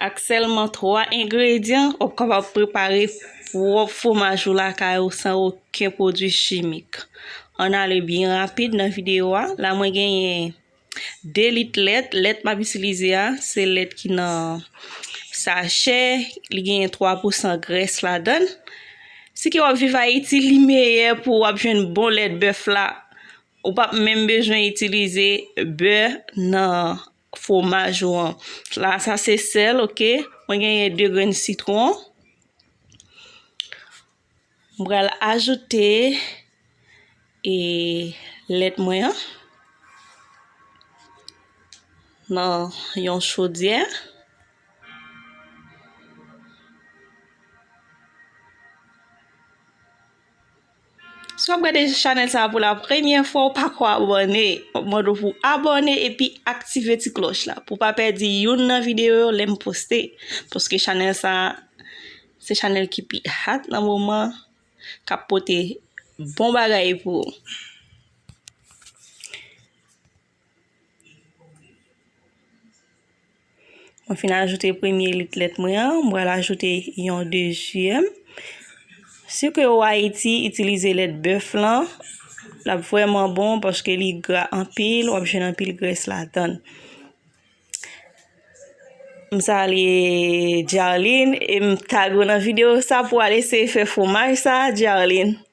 Ak sèlman 3 engredyan, w ap kapab prepare pwòp fwomaj ou lakay ou san oken pwodwi chimik. Ann ale byen rapid nan videyo a. La mwen genyen 2 lit lèt. Lèt m ap itilize a, se lèt ki nan sachè. Li genyen 3 pousan grès ladann. Si ke w ap viv Ayiti, li meyè pou w ap jwenn bon lèt bèf la. Ou p ap menm bezwen itilize bè nan Fwomaj ou an. La sa se sèl ok. Mwen genyen 2 grenn sitwon. Mwen pral ajoute e lèt mwen an. Nan yon chodyè. Si wap gade chanèl sa pou la premyè fwa ou pako abòne, map mande w pou abòne epi aktive ti klòch la pou pa pèdi youn nan videyo yo lèm poste paske chanèl sa se chanèl ki pi hat nan moman kap pote bon bagay pou ou. Mwen fin ajoute premye lit lèt mwen an, mwen pral ajoute yon dezyèm. Si ke ou Ayiti, itilize lèt bèf lan, l ap vwèman bon paske li gra anpil, w ap jwenn anpil grès ladann. M salye Djarline e m tag ou nan videyo sa pou al eseye fè fwomaj sa Djarline.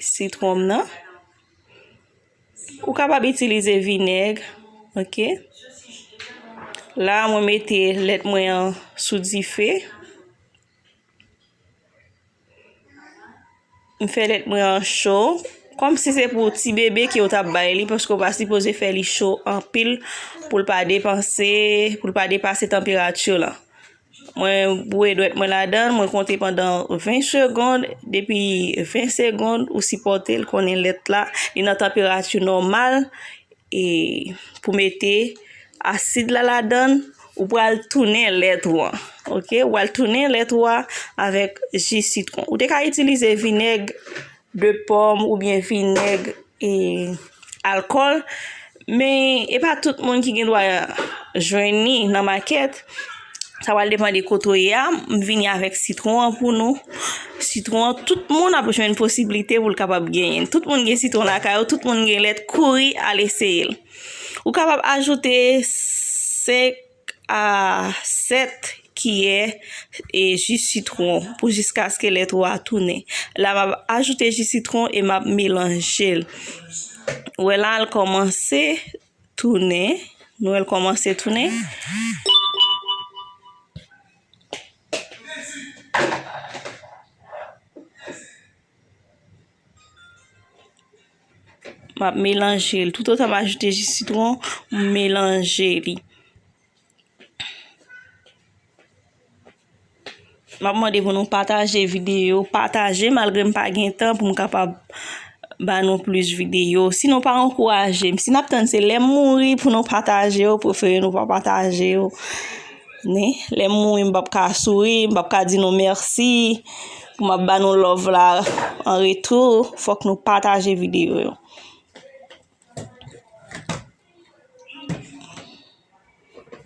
sitwon m nan. Ou kapab itilize vinèg, ok. La mwen mete lèt mwen an sou dife. M fè lèt mwen an cho. Kòm si se pou ti bebe ke ou t ap bay li, paske ou pa sipoze fè li cho anpil pou l pa depanse, pou l pa depase tanperati w lan. Mwen bouye dwèt mwen ladan, mwen konte pandan 20 segond, depi 20 segond ou sipòte l konnen lèt la li nan tanperati nòmal e pou mete asid la ladan ou pral tounen lèt ou an ok ou pral tounen lèt ou a avèk ji sitwon ou te ka itilize vinèg de pòm oubyen vinèg e alkòl men e pa tout moun ki gen dwa jwenn li nan makèt sa pral depan de kote ou ye a m vini avèk sitwon an pou nou sitwon an tout moun ap jwenn posiblite pou l kapab genyen l tout moun gen sitwon lakay yo tout moun gen lèt kouri al eseye l ou kapab ajoute 5 7 kiyè e ji sitron pou jiskaske lèt ou a tounen. La m ap ajoute ji sitron e m ap melanje l. Ou wè la l kòmanse tounen. Nou wè l kòmanse tounen. M ap melanje l. Tout otan m ajoute ji sitwon, m melanje li. M ap mande pou nou pataje videyo. Pataje malgre m pa gen tan pou m kapab ba nou plis videyo. Si nou pa ankouraje m. Si n ap tann se lè m mouri pou nou pataje yo, prefere nou pa pataje yo. Lè m mouri m p ap ka souri, m p ap ka di nou mèsi. Map ba nou love la an retou fok nou pataje video yo.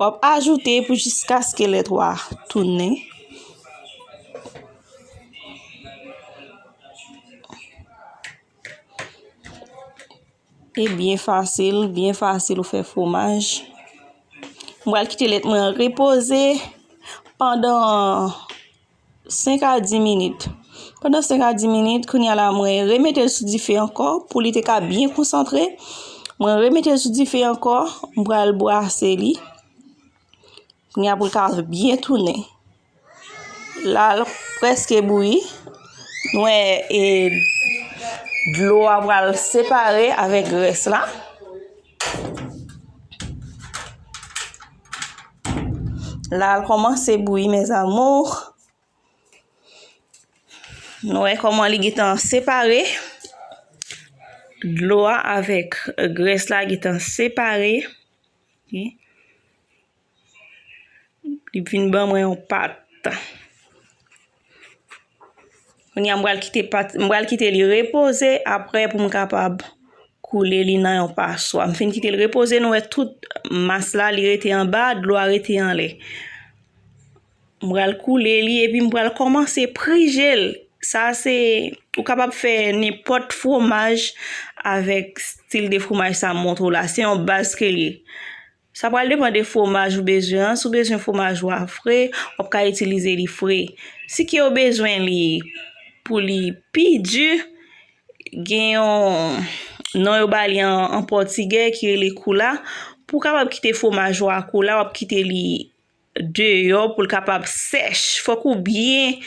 Wap ajoute pou jiskaske lèt wa tounen. E byen fasil, byen fasil ou fè fwomaj. Mwen al kite lèt mwen repoze pandan 5 a 10 minit. Pandan 5 a 10 minit, kounye a la mwen remete l sou dife ankò pou li te ka byen konsantre. Mwen remete l sou dife ankò, m pral bwase li. Kounye a pou l ka byen tounen. La l preske bouyi. Mwen e dlo a pral separe avèk grès la. La al kòmanse bouyi mes amours. Nou wè kòman li gitan separe. Dlo a avèk grès la gitan separe. Li vin ban mwen yon pat. Kounye a m pral kite pat, m pral kite li repoze aprè pou m kapab koule li nan yon paswa. M fin kite li repoze nou wè tout mas la li rete anba, dlo a rete anlè. M pral koule li epi m pral kòmanse prije l. Sa se, ou kapab fè nenpòt fwomaj avèk stil de fwomaj sa m montre w la. Se yon baz ke l ye. Sa pral depan de fwomaj ou bezwen an, si w bezwen fwomaj ou a fre, w ap ka itilize li fre. Si ke w bezwen li pou li pi di, gen yon non yo ba li an pòtigè ki rele koula, pou w kapab kite fwomaj ou a koula, w ap kite li deyò pou l kapab sèch. Fòk ou byen,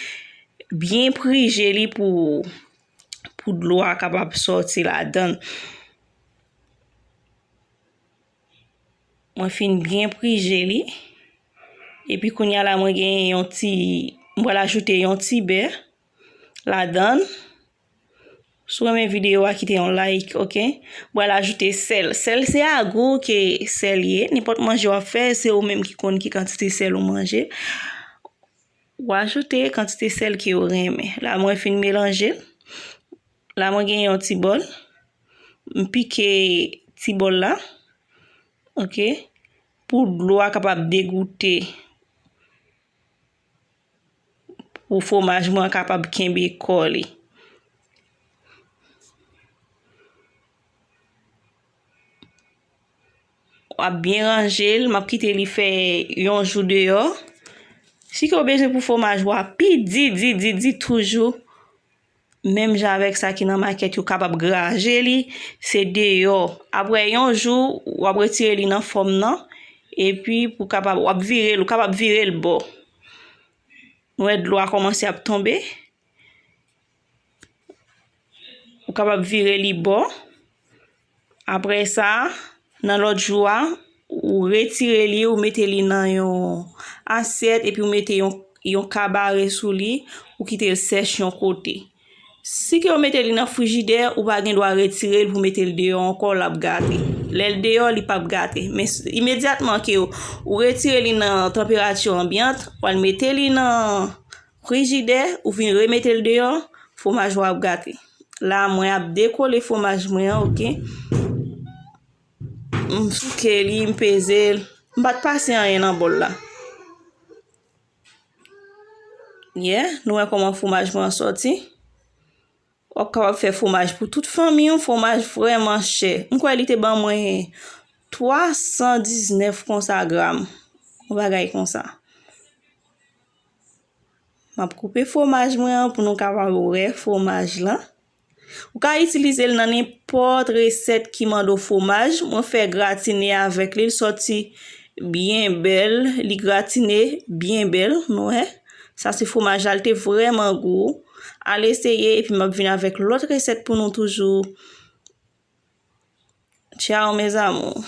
byen prije li pou dlo a kapab sòti ladan l. Mwen fin byen prije li. Epi kounya la mwen gen yon ti, mwen pral ajoute yon ti bè ladan. Si w renmen videyo a kite yon like ok. Mwen pral ajoute sèl. Sèl se a gou ke sèl ye. Nenpòt manje w ap fè se ou menm ki konn ki kantite sèl ou manje. Ou ajoute kantite sèl ke ou renmen. La mwen fin melanje. La mwen gen yon ti bòl. M pike ti bòl la. Ok. Pou dlo a kapab degoute. Pou fwomaj mwen kapab kenbe kò li. W ap byen ranje l. M ap kite li fè yon jou deyò. Si ke w bezwen pou fwomaj ou a pi di di di di toujou. menm jan avèk sa ki nan makèt yo kapab graje li se deyò aprè yon jou wap retire li nan fòm nan epi pou kapab wap vire l ou kapab vire l bò nou wè dlo a kòmanse ap tonbe ou kapab vire li bò. Apre sa, nan lòt jou a, ou retire li, ou mete li nan yon asyèt epi ou mete yon kabare sou li, ou kite l sèch yon kote. Si ke ou mete li nan frijidè, ou pa gen dwa retire l pou mete l deyò ankò, l ap gate. Lè l deyò, li pap gate. Men, imedyatman ke ou retire li nan tanperati anbyant, ou al mete li nan Frijidè, ou vin remete l deyò, fwomaj ou ap gate. La a mwen ap dekole fwomaj mwen an ok. M souke li, m peze l. M pa t pase anyen nan bòl la. Yeah, nou wè kòman fwomaj mwen an sòti. Wap kapab fè fwomaj pou tout fanmi w, fwomaj vrèman chè. M kwè li te ban mwen 319 konsa gram. Yon bagay konsa. Map koupe fwomaj mwen an pou nou kapab wè fwomaj la. Ou ka itilize l nan nenpòt resèt ki mande w fwomaj. Mwen fè gratine avèk li, li sòti byen bèl. Li gratine byen bèl, nou wè. Sa se fwomaj la, li te vrèman gou. Al eseye epi m ap vin avèk lòt resèt pou nou toujou. Tchao mes amours.